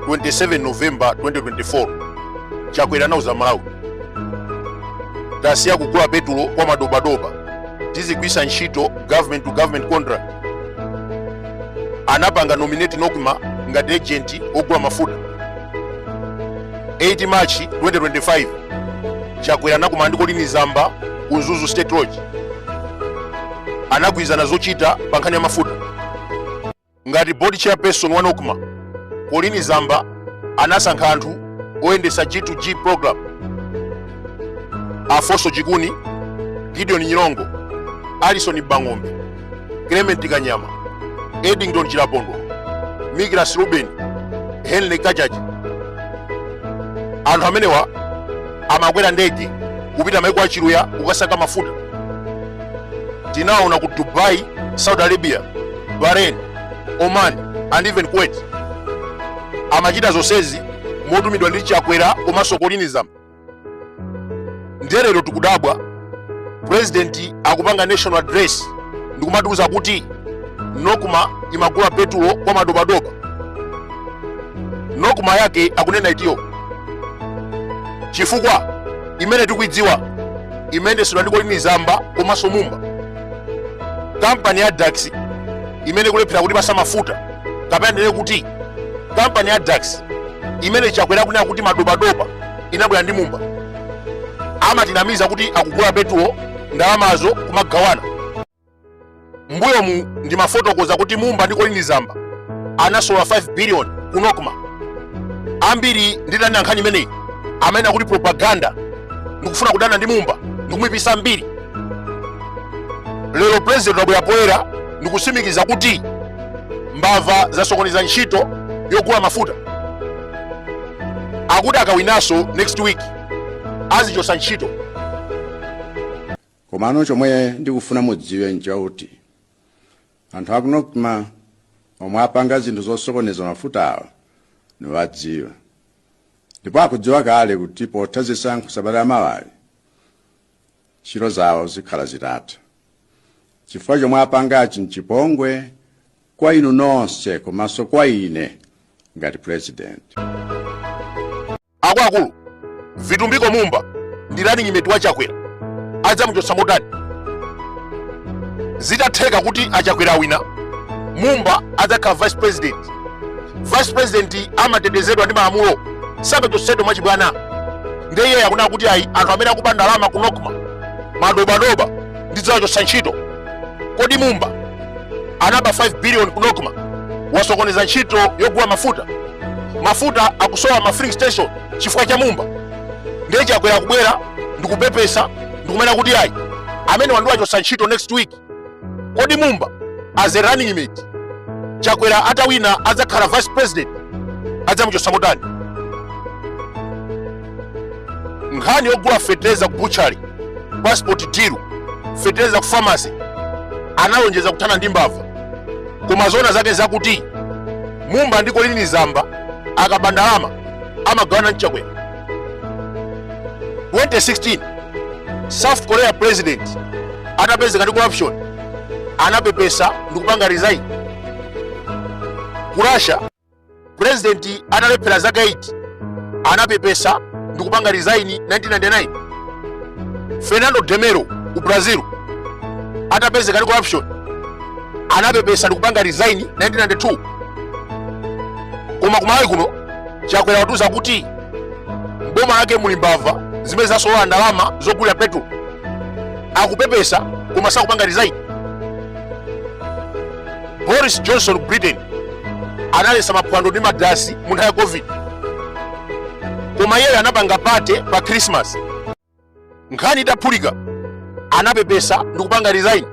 27 november 2024 chakwera anauza malawi tasiya kugula petulo kwa madobadoba tizigwiritsa ntchito government to government contract anapanga nominate nokma ngati agent ogula mafuta 8 march 2025 chakwera anakumana ndi kolini zamba ku mzuzu state lodge anagwirizana zochita pa nkhani ya mafuta ngati board chairperson wa nocma colini zamba anasankha anthu oyendesa g2g program afonso chikuni gideon nyirongo alison mbang'ombe clement kanyama edington chilapondo migras ruben henry kajaji anthu amenewa amakwera ndege kupita maiko a chiluya kukasaka mafuta tinaona ku dubai saudi arabia bahrain oman and even kuwait amachita zonsezi motumidwa ndi chakwera komanso kolini zamba ndiye lero tikudabwa president akupanga national address ndikumatiuza kuti nokma imagula petulo kwa madobadoba nokma yake akunena itiyo chifukwa imene tikuidziwa imayendesedwa ndi kolini zamba komanso mumba kampani ya dax imene ikulephera kutipasa mafuta kapena ndinene kuti kampani ya dax imene chakwera akunena kuti madobadoba inabwera ndi mumba amatinamiza kuti akugula petulo ndalamazo kumagawana mbuyomu ndimafotokoza kuti mumba ndi colin zamba anasolola 5 billion ku nocma ambiri nditanena nkhani imeneyi amanena kuti propaganda ndikufuna kudana ndi mumba ndikumuipisa mbiri lero president wabwera poyera ndikutsimikiza kuti mbava zasokoneza ntchito yogula mafuta akuti akawinanso next week azazichosa ntchito komano chomwe ndikufuna mudziwe nchakuti anthu aku nocma omwe apanga zinthu zosokoneza mafutawa ndawadziwa ndipo akudziwa kale kuti potha zisankho sabata la mawali ntchito zawo zikhala zitatha chifukwa chomwe apangachi nchipongwe kwa inu nonse komanso kwa ine ngati president Akuluakulu, Vitumbiko Mumba ndi running mate wa Chakwera adzamuchotsa motani? Zitatheka kuti a Chakwera awina Mumba adzakhala vice president. Vice president amatetezedwa ndi malamulo samachotsedwa mwachibwana. Ndiye iye akunena kuti ayi anthu amene akuba ndalama ku Nokma madobadoba ndidzawachotsa ntchito kodi mumba anaba 5 billion ku nocma wasokoneza ntchito yogula mafuta mafuta akusowa ma filling station chifukwa cha mumba ndiye chakwera kubwera ndikupepesa ndikumanena kuti ayi amene ndiwachotsa ntchito next week kodi mumba as a running mate chakwera atawina adzakhala vice president adzamuchotsa motani nkhani yogula fetereza ku butchery passport deal fetereza ku pharmacy analonjeza kuthana ndi mbava koma zoona zake zakuti mumba ndi colleen zamba akaba ndalama amagawana ndi chakwera 2016 south korea president atapezeka ndi corruption anapepesa ndikupanga resign ku russia pulezidenti atalephera zaka 8 anapepesa ndi kupanga resign 1999 fernando de mello ku brazil atapezeka ndi corruption anapepesa ndi kupanga resign 1992 koma kumalawi kuno chakwera watiuza kuti mboma lake muli mbava zimene zasolola ndalama zogulira petro akupepesa koma sakupanga resign boris johnson ku britain analetsa maphwando ndi madansi mu nthawi ya covid koma iyeyo anapanga pate pa krismas nkhani itaphulika anapepesa ndi kupanga resign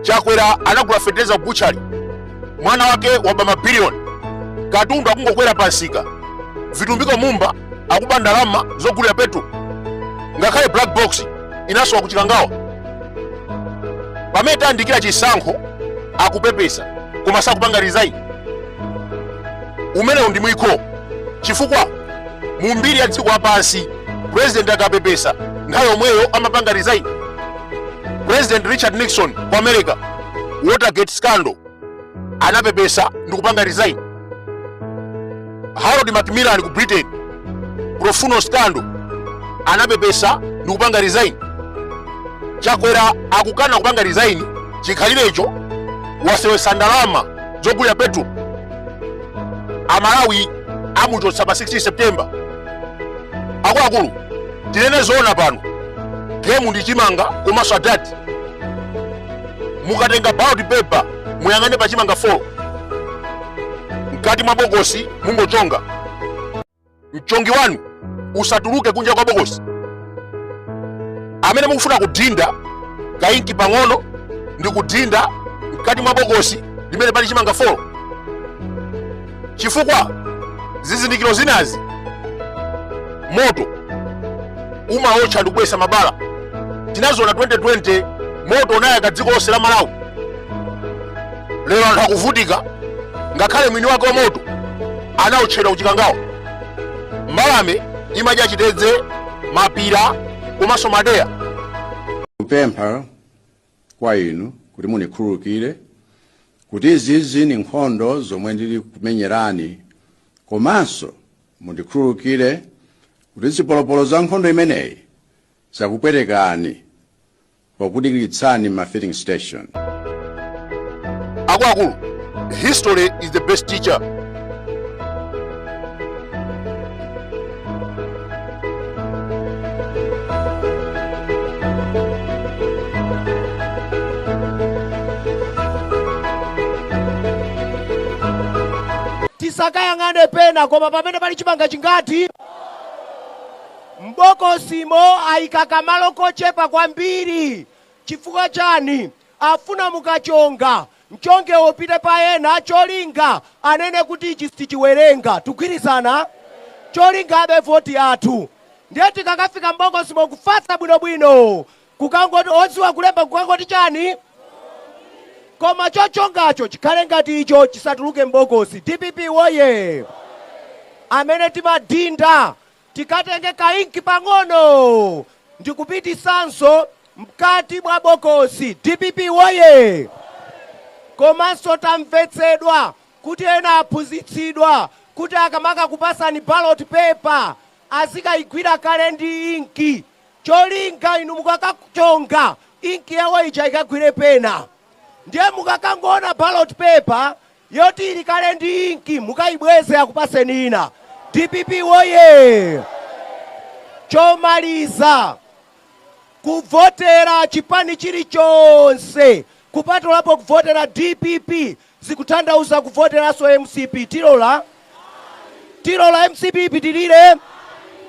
chakwera anagula feteleza kubuchali mwana wake waba mabiliyoni katundu akungokwera pamsika vitumbiko mumba akuba ndalama zogulira petro ngakhale black box inasowa ku chikangawa pamene tayandikira chisankho akupepesa koma sakupanga resign umenewu ndi mwikho chifukwa mu mbiri ya dziko lapansi president akapepesa nthawi yomweyo amapanga resign president richard nixon ku america watergate scandal anapepesa ndi kupanga resign harold macmillan ku britain profumo scandal anapepesa ndi kupanga resign chakwera akukana kupanga resign chikhalirecho waseweretsa ndalama zogulira petro amalawi amuchotsa pa 16 september akuluakulu tinene zoona pano gemu ndi chimanga komanso adadi mukatenga ballot paper muyang'ane pa chimanga 4 mkati mwa bokosi mungochonga mchongo wanu usatuluke kunja kwa bokosi amene mukufuna kudinda kainki pang'ono ndi kudinda mkati mwa bokosi limene pali chimanga 4 chifukwa zizindikiro zinazi moto umaotcha ndi kubweretsa mabala tinaziona 2020 moto unayaka dziko lonse la malawi lero anthu akuvutika ngakhale mwini wake wa moto anaotchedwa ku Chikangawa mbalame imadya chitedze mapira komanso madeya kupempha kwa inu kuti mundikhululukire kuti izizi ndi nkhondo zomwe ndili kumenyerani komanso mundikhululukire kuti zipolopolo za nkhondo imeneyi zakupwetekani pokudikiritsani m'ma filling station akuluakulu history is the best teacher tisakayang'ane pena koma pamene pali chimanga chili ngati m'bokosimo ayika kamalo kochepa kwambiri chifukwa chani afuna mukachonga Mchongewo upite pa ena cholinga anene kuti ichi sichiwerengwa. Tikugwirizana? Cholinga abe voti yathu. Ndiye tikakafika m'bokosimo kufatsa bwinobwino kukangoti odziwa kulemba kukangoti chani? Koma chochongacho chikhale ngati icho chisatuluke m'bokosi. Dpp Woyee! Amene timadhinda Tikatenge kainki pang'ono ndikupititsanso mkati mwa bokosi. Dpp woye! Komanso tamvetsedwa kuti ena aphunzitsidwa kuti akamakakupasani ballot paper azikaigwira kale ndi inki cholinga inu mukakachonga inki yawo ija ikagwire pena. Ndiye mukakangoona ballot paper Yoti ili kale ndi inki mukaibweze akupaseni ina. Dpp woyee! Chomaliza, kuvotera chipani chilichonse kupatulapo kuvotera dpp zikutanthauza kuvoteranso mcp. Tilola? Tilola mcp ipitilire?